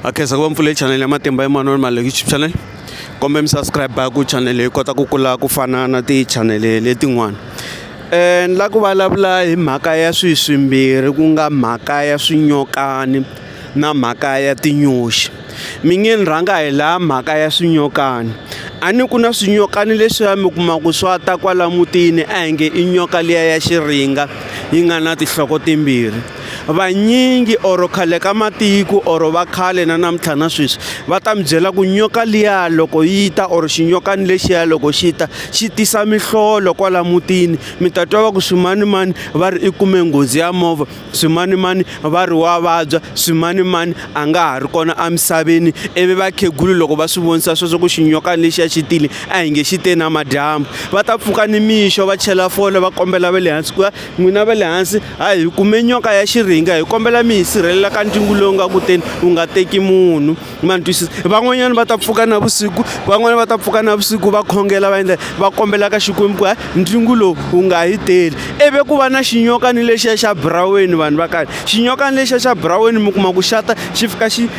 akhensa ku va mpfule chanele ya matimba emmanuel male youtube channel kombe mi subscribe ku chanele yi kota ku kula ku fana na tichanele letin'wana um ni la ku vulavula hi mhaka ya swihi swimbirhi ku nga mhaka ya swinyokani na mhaka ya tinyoxi mi nge ni rhanga hi laha mhaka ya swinyokani a ni ku na swinyokani leswiya mi kuma ku swa ta kwala mutini a hi nge i nyoka liya ya xiringa yi nga na tinhloko timbirhi vanyingi or khale ka matiko or va khale na namuntlha na sweswi va ta mi byela ku nyoka liya loko yi ta or xinyokani lexiya loko xi ta xi tisa mihlolo kwala mutini mi ta twa va ku swimanimani va ri i kume nghozi ya movha swimanimani va ri wa vabya swimanimani a nga ha ri kona emisaveni ivi vakhegulu loko va swi vonisa sweswo ku xinyokani lexiya xi tile a hi nge xi te na madyambu va ta pfuka ni mixo va chela fole va kombela va le hansi ku ya N'wina va le hansi, ha hi kume nyoka ya xiringa, hi kombela mi hi sirhelela ka ntwingu lowu nga kuteni wu nga teki munhu, ma ni twisisa? Van'wanyana va ta pfuka navusiku, van'wana va ta pfuka navusiku va khongela va endla va kombela ka Xikwembu ku hayi ntwingu lowu wu nga hi teli. Ivi ku va na xinyoka ni lexiya xa buraweni vanhu va kani, xinyoka ni lexiya xa buraweni mi kuma ku xa ta xi fika xi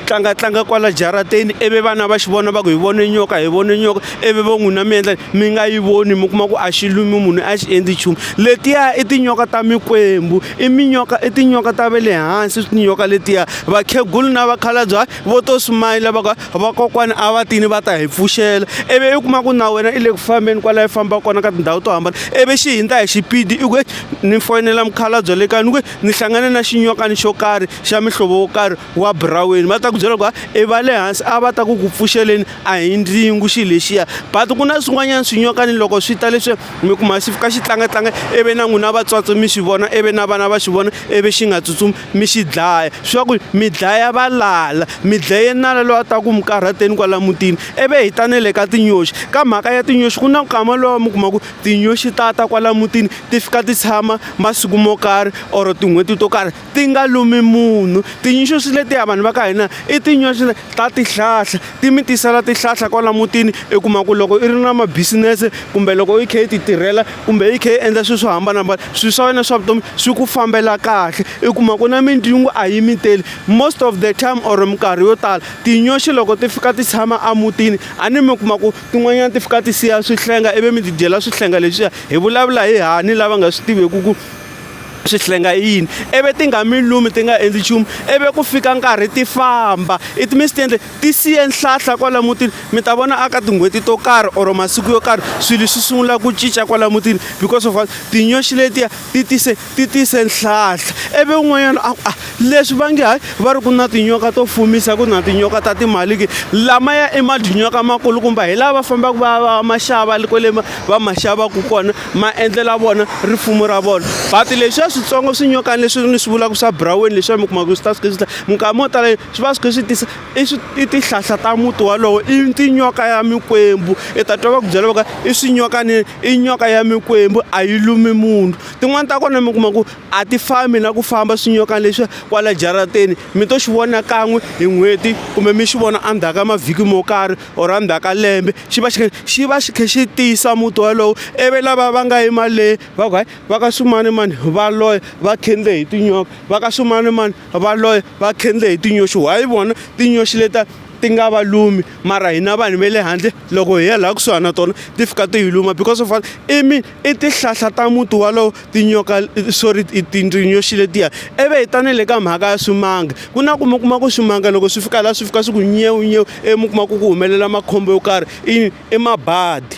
tlangatlanga kwala jarateni ivi vana va xi vona va ku hi vone nyoka hi vone nyoka ivi vo n'wina mi endla mi nga yi voni mi kuma ku a xi lumi munhu a xi endli nchumu letiya i tinyoka ta mikwembu i minyoka i tinyoka ta ve le hansi tinyoka letiya vakhegula na vakhalabye hayi vo to sumayila va ka vakokwana a va tini va ta hi pfuxela ivi i kuma ku na wena i le ku fambeni kwala i famba kona ka tindhawu to hambana ivi xi hindza hi xipidi i ku ni foyinela mukhalabye le kaya ni ku ni hlangane na xinyokani xo karhi xa mihlovo wo karhi wa buraweni va ta ku byela ku i va le hansi a va ta ku ku pfuxeleni a hi ndzingu xi lexiya but ku na swin'wanyana swinyokani loko swi ta leswi mi kuma xi fika xi tlangatlanga ivi na n'wina vatswatsi mi swi vona ivi na vana va swi vona ivi xi nga tsutsumi mi xi dlaya swa ku mi dlaya va lala mi dlaye nala loyi a ta ku mi karhateni kwala mutini ivi hi ta ne le ka tinyoxi ka mhaka ya tinyoxi ku na nkama lowa mi kuma ku tinyoxi ta ta kwala mutini ti fika ti tshama masiku mo karhi or tin'hweti to karhi ti nga lumi munhu. Tinyoxi letiya vanhu va ka hina i tinyoxi ta tihlahla, ti mi tisela tihlahla kwala mutini i kuma ku loko i ri na ma-business-e kumbe loko i kha i ti tirhela kumbe i kha i endla swilo swo hambanahambana swilo swa wena swa vutomi swi ku fambela kahle. I kuma ku na mindzhungo a yi mi teli, most of the time or minkarhi yo tala tinyoxi loko ti fika ti tshama emutini a ni mi kuma ku tin'wanyana ti fika ti siya swihlenga ivi mi ti dyela swihlenga leswiya. Hi vulavula hi hina lava nga swi tiveki ku. swihlenga i yini ivi ti nga mi lumi ti nga endli nchumu ivi ku fika nkarhi ti famba it means ti endle ti siye nhlahla kwala mutini mi ta vona aka tin'hweti to karhi or masiku yo karhi swilo swi sungula ku cinca kwala mutini because of tinyoxi letiya ti tise ti tise nhlahla ivi un'wanyana a a ah, leswi va nge hayi va ri ku na tinyoka to fumisa ku na tinyoka ta timali ke lama ya i madinyoka makulukumba hi laha va fambaka va va maxava kwale va maxavaku kona ma endlela vona rifumo ra vona but leswiya switsongo swinyokani leswi ni swi vulaka swa buraweni leswiya mi kumaka swi ta swi swi minkama mo tala swi va swi kha swi tisa i swi i tihlahla ta muti walowo i tinyoka ya mikwembu i ta twa va ku byela va ka i swinyokani i nyoka ya mikwembu a yi lumi munhu tin'wani ta kona mi kuma ku a ti fambi na ku famba swinyokani leswiya kwala jarateni mi to xi vona kan'we hi n'hweti kumbe mi xi vona endzhaku ka mavhiki mo karhi or endzhaku ka lembe xi va xi kha xi va xi kha xi tiyisa muti wolowo ivi lava va nga yi mali leyi va ku hayi va ka swimanimani va loya va khendle hi tinyoka va ka swimanimani va loya va khendle hi tinyoxi why vona tinyoxi leta ti nga va lumi mara hina vanhu va le handle loko hi ya laha kusuhana na tona ti fika ti hi luma because of i mi I tihlahla ta muti walowo tinyoka sorry tinyoxi letiya ivi hi ta na le ka mhaka ya swimanga ku na ku mi kuma ku swimanga loko swi fika laha swi fika swi ku nyewu nyewu ivi mi kuma ku ku humelela makhombo yo karhi i i mabadi.